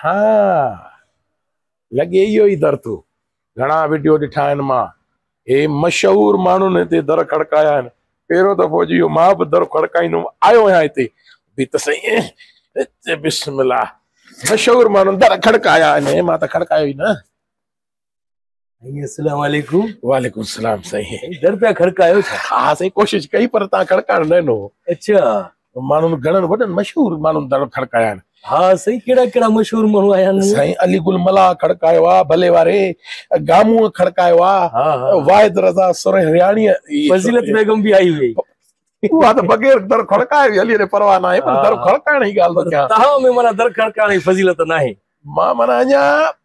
ها لڳي اهو ئي در ٿو. گهڻا وڊيو ڏٺا آهن مان هي مشهور ماڻهن هتي در کڙڪايا آهن پهريون دفعو جي اهو مان به در کڙڪائيندم آيو آهيان هتي به ته سائين بسم الله مشهور ماڻهن در کڙڪايا آهن مان ته کڙڪايو ئي نه السلام عليڪم وعليڪم السلام سائين در پيا کڙڪايو ڇا ها سائين ڪوشش ڪئي پر تان کڙڪائڻ نه ڏنو اچھا ماڻهن گھڻن وڏن مشهور ماڻهن در کڙڪايا آهن ها سائين ڪهڙا ڪهڙا مشهور ماڻهو آيا آهن سائين علي گل ملا کڙڪايو آ ڀلي واري گامو کڙڪايو آ ها ها واحد رضا سرهياڻي فضيلت بيگم به آئي هئي اها ته بغير در کڙڪائي وي علي ري پرواهه نه آهي پر در کڙڪائڻ جي ڳالهه ته ڪيان تها ۾ مانا در کڙڪائڻ جي فضيلت نه آهي مان مانا اڃا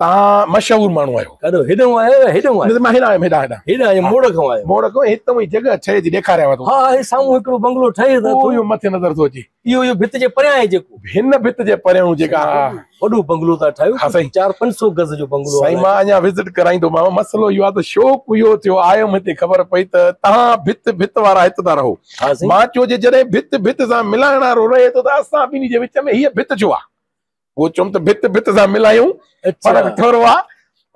توهان مشهور ماڻهو آهيو. ڏاڍو هيڏانهون آهيو يا هيڏانهون آهيو؟ مان هيڏانهن آيم، هيڏانهن، هيڏانهن. هيڏانهن يا موڙ کان آيو. موڙ کان هي توهان جي جڳهه ٺهي ٿي ڏيکاريان مان توکي. ها هي سامهون هڪڙو بنگلو ٺهي ته ٿو. اهو مٿي نظر ٿو اچي. اهو اهو ڀت جي پريان آهي جيڪو. هن ڀت جي پريان جيڪا. وڏو بنگلو ٿا ٺاهيو. ها سائين. چار پنج سو گز جو بنگلو آهي. سائين مان اڃا وزٽ ڪرائيندومانو مسئلو اهو آهي ته شوق اهو ٿيو آيم هتي خبر پئي ته توهان ڀت ڀت وارا هت ٿا رهو. ها سائين. مان چيو جي جڏهن ڀت ڀت سان ملائڻ وارو رهي ٿو ته اسان ٻنهي جي وچ ۾ هيء ڀت ڇو آهي؟ هو چيم ته ڀت ڀت سان ملايون فرق ٿورو آ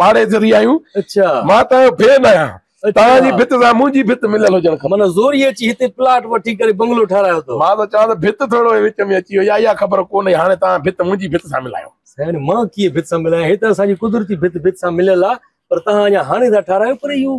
پاڙي ذري آيون اچھا مان ته ڀين آهيان تان جي ڀت سان منهنجي ڀت مليل هجڻ کپي من زوري اچي هتي پلاٽ وٺي ڪري بنگلو ٺارايو تو مان ته چان ته ڀت ٿورو هي وچ ۾ اچي ويا اها خبر ڪونهي هاڻي تان ڀت منهنجي ڀت سان ملايون سائين مان ڪي ڀت سان ملايان هي ته اسان جي قدرتي ڀت ڀت سان مليل آ پر تان اڃا هاڻي ٿا ٺارايو پر اهو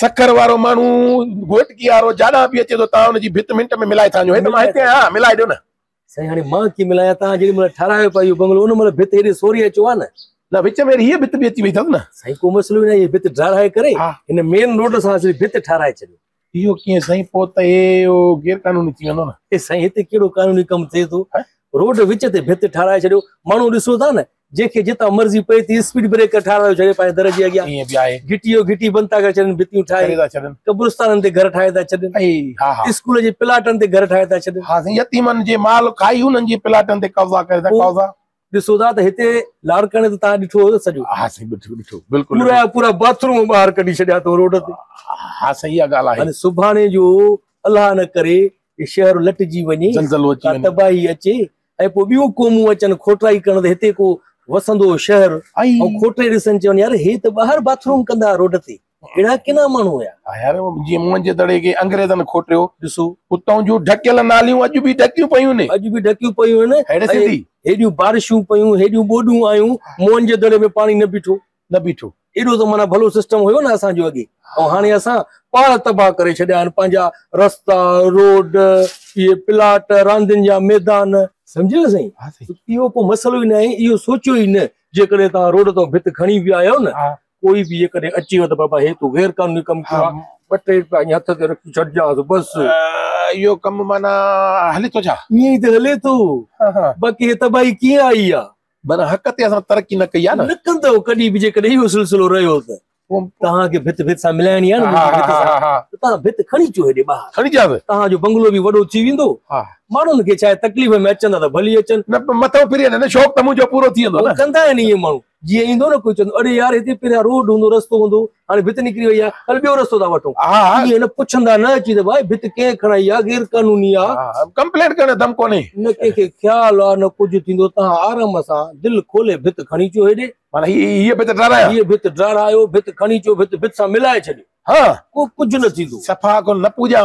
سکر وارو ماڻهو گهوٽڪي وارو جاڏان به اچي ٿو تان ان جي ڀت منٽ ۾ ملائي ٿا وڃو هي ته مان هتي آهيان ملائي ڏيو نه سائين هاڻي مان ڪي ملايا تان جيڏي مهل ٺارايو پيو بنگلو ان مهل ڀت هيڏي سوري اچو آ نه نه وچ ۾ هي ڀت به اچي وئي ٿس نه سائين ڪو مسئلو نه هي ڀت ڊراهي ڪري هن مين روڊ سان سي ڀت ٺاراي ڇڏيو اهو ڪيئن سائين پو ته هي غير قانوني ٿي ويندو نه سائين هتي ڪهڙو قانوني ڪم ٿئي ٿو روڊ وچ تي ڀت ٺاراي ڇڏيو ماڻهو ڏسو ٿا نه جنهن کي جتان مرضي پئي ٿي اسپيڊ بريڪر ٺارايو ڇڏي پنهنجي در جي اڳيان ائين به آهي. گهٽي جو گهٽي بند ٿا ڪري ڇڏين ڀتيون ٺاهي ڪري ٿا ڇڏن قبرستانن تي گهر ٺاهي ٿا ڇڏين اي ها ها اسڪول جي پلاٽن تي گهر ٺاهي ٿا ڇڏين ها سائين يتيمن جي مال کائي انهن جي پلاٽن تي قبضا ڪري ٿا پوء قبضا ڏسو ٿا ته هتي لاڙڪاڻي ته توهان ڏٺو هيو سڄو ها سائين ڏٺو ڏٺو بلڪل پورا ڏٺو جا پورا باٿروم ٻاهر ڪڍي ڇڏيا اٿو روڊ تي ها سائين اها ڳالهه آهي هاڻي سڀاڻي جو الله نه ڪري هي شهر لٽجي وڃي زلزلو اچي ڪا وڃي تباهي اچي ۽ پوء ٻيون قومون اچن کوٽرائي ڪرڻ ته هتي ڪو وسندو شهر ۽ کوٽري ڏسن چون يار هي ته ٻاهر باٿروم ڪندا ها روڊ تي اهڙا ڪنا ماڻهو هيا. ها يار جيئن منهنجي دڙي کي انگريزن کوٽيو ڏسو اتون جون ڍڪيل ناليون اڄ به ڍڪيون پيون ني اڄ به ڍڪيون پيون هن هيڏي سنڌي هيڏيون بارشون پيون هيڏيون ٻوڏون آيون منهنجي دڙي ۾ پاڻي نه بيٺو. نه بيٺو. ايڏو ته معنيٰ ڀلو سسٽم هيو نه اسان جو اڳي ۽ هاڻي اسان پاڙ تباهه ڪري ڇڏيا آهن پنهنجا رستا روڊ اهي پلاٽ راندين جا ميدان. سمجهيو نه سائين اهو ڪو مسئلو ئي نه آهي اهو سوچيو ئي نه جيڪڏهن توهان روڊ تان ڀت کڻي به آيو نه ڪوئي به جيڪڏهن اچي ويو ته بابا هي تو غير قانوني ڪم ڪيو آهي ٻه ٽي روپيا اڃا هٿ تي رکي ڇڏجانس بس اهو ڪم معنيٰ هلي ٿو ڇا؟ ائين ئي ته هلي ٿو باقي هي تباهي ڪيئن آئي آهي. معنيٰ حق تي اسان ترقي نه ڪئي آهي نه. لڪندؤ ڪڏهن به جيڪڏهن اهو سلسلو رهيو ته توهان کي ڀت ڀت سان ملائڻي آهي نه منهنجي ڀت سان ته توهان ڀت کڻي اچو هيڏي ٻاهر کڻي اچو ته توهان جو بنگلو به وڏو ٿي ويندو ماڻهن کي ڇاهي تڪليف ۾ اچن ٿا ته ڀلي اچن نه پر مٿو ڦري وڃن شوق ته منهنجو پورو ٿي ويندو نه ڪندا آهن ائين ماڻهو جيئن ايندو نه ڪوئي چوندو اڙي يار هتي پريان روڊ هوندو رستو هوندو هاڻي ڀت نڪري وئي آهي هل ٻيو رستو ٿا وٺون ائين پڇندا نه اچي ته ڀائي ڀت ڪنهن کڻائي آهي غير قانوني آهي ڪمپلينٽ ڪرڻ دم ڪونهي نه ڪنهن کي خيال آهي نه ڪجهه ٿيندو تان آرام سان دل کولي ڀت کڻي اچو هيڏي معنی هي ڀت ڊرارايو هي ڀت ڊرارايو ڀت کڻي اچو ڀت ڀت سان ملائي ڇڏيو ها ڪو ڪجهه نه ٿيندو صفا ڪو نه پوڄا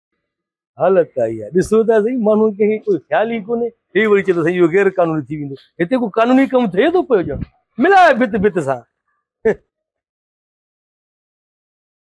حالت ڪا اها آهي ڏسو ته سهي ماڻهن کي ڪوئي خيال ئي ڪونهي هي وري چي ٿو سهي اهو غير قانوني ٿي ويندو هتي ڪو قانوني ڪم ٿئي ٿو پيو ڄڻ ملاء ڀت ڀت سان